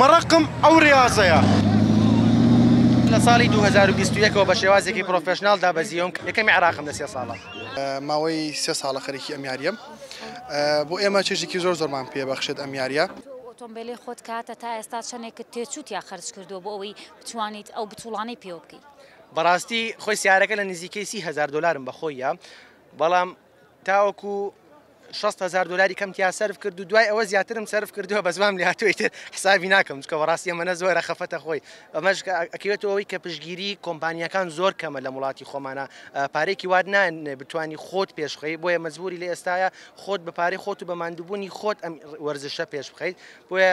مەڕەقم ئەو ڕێازەیە. لە ساڵی دوو هەزار و بیست و یەک ەوە بە شێوازێکی پرۆفێشناڵ دابەزیوم، یەکەمی عێراقم لە سێ ساڵە. ماوەی سێ ساڵە خەریکی ئەم یاریەم. بۆ ئێمە چێژێکی زۆر زۆرمان پێ بەخشێت ئەم یاریە. ئۆتۆمبێلی خۆت کاتە تا ئێستا چەندێکت تێچووت یا خەرج کردووە بۆ ئەوەی بتوانیت ئەو بتوڵانەی پێوە بکەیت؟ بەڕاستی خۆی سیارەکە لە نزیکەی سی هەزار دۆلارم بە خۆیە بەڵام. تاوەکو شەست هەزار دۆلاری کەم تیا سەرف کرد و دوای ئەوە زیاترم سەرف کردووە بە زوام لاتوی تر حسابی ناکەم چکە بەڕاستی ئەمەە زۆرە خەفەتە خۆی ئەمەش ئەکەوێتەوەی کە پشگیری کۆمپانیەکان زۆر کەمە لە وڵاتی خۆمانە پارێکی واد نان بتانی خۆت پێشخی بۆیە مەزبوری لە ئێستاە خۆت بە پارەی خۆت و بە مادوبوونی خۆت ئەم وەرزشە پێش بخەیت بۆیە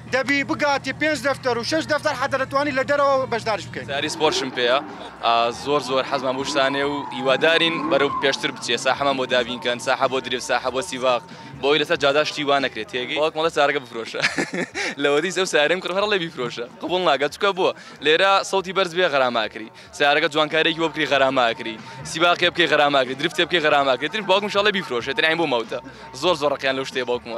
دەبی بگاتە پێنج دەفتەر و شەش دەفتەر حەتە دەتوانی لە دەرەوە بەشداریش بکەین. ساری سپۆرتشم پێیە زۆر زۆر حەزمان بەو شتانەیە و هیوادارین بەرەو پێشتر بچێ ساحەمان بۆ دابین کەن ساحە بۆ دریفت ساحە بۆ سیڤاغ بۆ ئەوەی لەسەر جادا شتی وا نەکرێت تێگەی وەک مەڵێ سارەکە بفرۆشە لەوەدیس ئەو سارەم کڕ هەر ڵێ بیفرۆشە قبوڵ ناکات چکە بووە لێرە سەوتی بەرز بێ غەراماکری سارەکە جوانکارێکی بۆ بکری غەراماکری سیباقێ بکەی غەراماکری درفتێ بکەی غەراماکرێتتر باوکم شڵێ بیفرۆشێتتر ئەین بۆ ماوتە زۆر زۆر ڕقیان لەو شتێ باوکمە